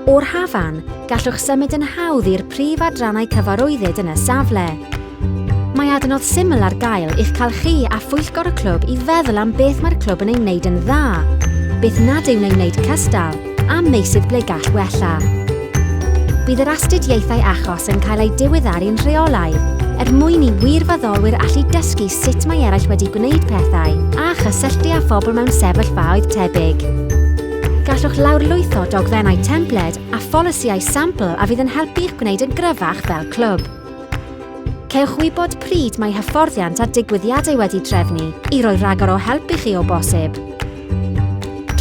O'r hafan, gallwch symud yn hawdd i'r prif adrannau cyfarwyddyd yn y safle. Mae adnodd syml ar gael i'ch cael chi a phwyllgor y clwb i feddwl am beth mae'r clwb yn ei wneud yn dda, beth nad yw'n ei wneud cystal, am meysydd ble gall wella. Bydd yr astudiaethau achos yn cael eu diweddaru'n rheolaidd er mwyn i wirfoddolwyr allu dysgu sut mae eraill wedi gwneud pethau a chysylltu â phobl mewn sefyllfaoedd tebyg. Gallwch lawrlwytho dogfennau templed a pholisïau sampl a fydd yn helpu i'ch gwneud yn gryfach fel clwb. Cewch wybod pryd mae hyfforddiant a digwyddiadau wedi trefnu i roi rhagor o help i chi o bosib.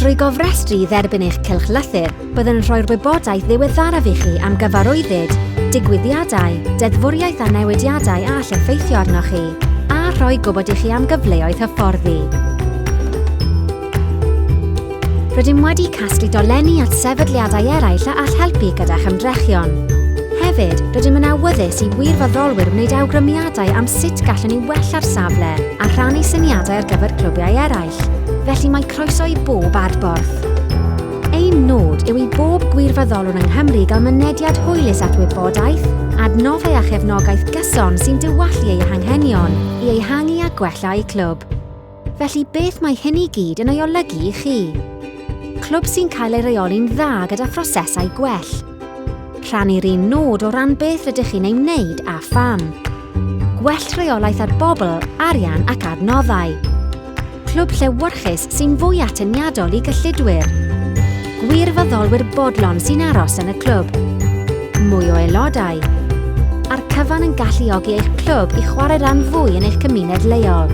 Drwy gofrestru i dderbyn eich cylch lythyr, byddwn yn rhoi'r wybodaeth ddiweddaraf i chi am gyfarwyddyd, digwyddiadau, deddfwriaeth a newidiadau a all effeithio arnoch chi, a rhoi gwybod i chi am gyfleoedd hyfforddi. Rydym wedi casglu dolenni at sefydliadau eraill a all helpu gyda'ch ymdrechion. Hefyd, rydym yn awyddus i wirfoddolwyr wneud awgrymiadau am sut gallwn ni wella'r safle a rhannu syniadau ar gyfer clwbiau eraill. arall, felly mae croeso i bob adborth. Ein nod yw i bob gwirfoddolwr yng Nghymru gael mynediad hwylus at wybodaeth, adnoddau a chefnogaeth gyson sy'n diwallu eu hanghenion i ehangu a gwella eu clwb. Felly beth mae hyn i gyd yn ei olygu i chi? Clwb sy'n cael ei reoli'n dda gyda phrosesau gwell, Rhannu'r un nod o ran beth rydych chi'n ei wneud a pham. Gwell rheolaeth ar bobl, arian ac adnoddau. Clwb llewyrchus sy'n fwy atyniadol i gyllidwyr. Gwirfoddolwyr bodlon sy'n aros yn y clwb. Mwy o aelodau. A'r cyfan yn galluogi eich clwb i chwarae ran fwy yn eich cymuned leol.